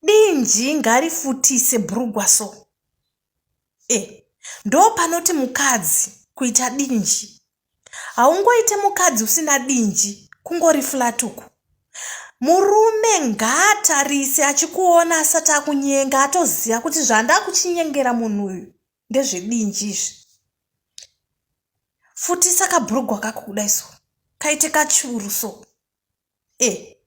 Dinji ngarifutise brugwa so. Eh, ndopanoti mukadzi kuita dinji. Haungoite mukadzi usina dinji kungori flat uku. Murume ngaatarise achikuona asati akunyenga atoziva kuti zvandakuchinyengera munhu uyu ndezvedinji izvi. Futisa kabrugwa kako kudai so. Kaite kachuru so. e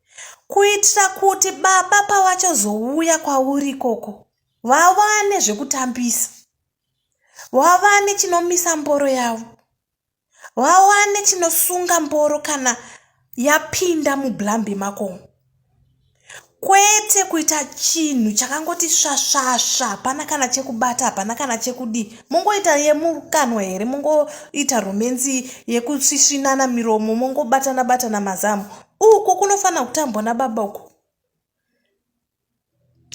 kuitira kuti baba pavachazouya kwauri ikoko vawane zvekutambisa vawane chinomisa mboro yavo vawane chinosunga mboro kana yapinda mublambi makomo kwete kuita chinhu chakangoti svasvasva hapana kana chekubata hapana kana chekudii mongoita yemukanwa here mongoita romenzi yekusvisvinana miromo mongobatana batana mazamu uko kunofanira kutambwa nababa uko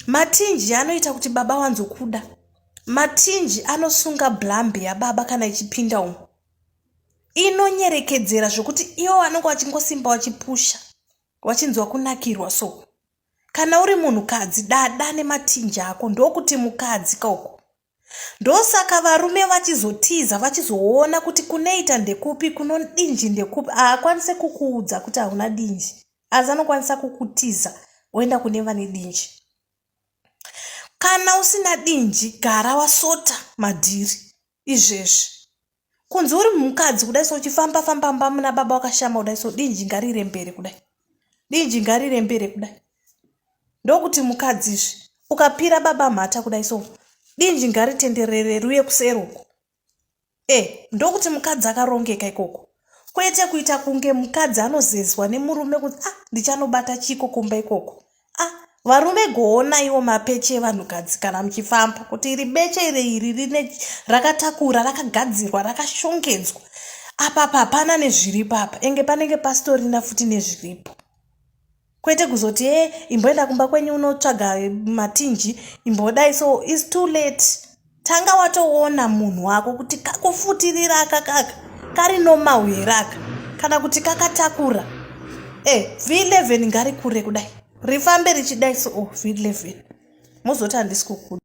matinji anoita kuti baba wanzokuda matinji anosunga blambe yababa kana ichipinda umo inonyerekedzera zvokuti iwo vanenge vachingosimba vachipusha wachinzwa kunakirwa so kana uri munhukadzi dada nematinji ako ndokuti mukadzi kauko ndosaka varume vachizotiza vachizoona kuti kuneita ndekupi kunodinji ndekupi haakwanise kukuudza kuti hauna dinji asi anokwanisa kukutiza oenda kune vane dinji kana usina dinji gara wasota madhiri izvezvi kunzi uri mukadzi kudai so uchifamba famba mba muna baba wakashama kudai so dinji ngarire mbere kudai dinji ngarire mbere kudai ndokuti mukadzi izvi ukapira baba mhata kudai so dinji ngaritenderere ruye kuseruko e eh, ndokuti mukadzi akarongeka ikoko kwete kuita kunge mukadzi anozezwa nemurume kunzi ah ndichanobata chiko kumba ikoko Ah, varume goonaiwo mapeche evanhukadzi kana muchifamba kuti iri beche iri iri rine rakatakura rakagadzirwa rakashongedzwa apapa hapana nezviripo apa enge panenge pasitorina futi nezviripo kwete kuzoti e imboenda kumba kwenyu unotsvaga matinji imbodai so is too late tanga watoona munhu wako kuti kakufutirira aka kaka kari nomau here aka kana kuti kakatakura e eh, v11 ngari kure kudai rifambe richidai so oh, v11 mozoti handisi kukuda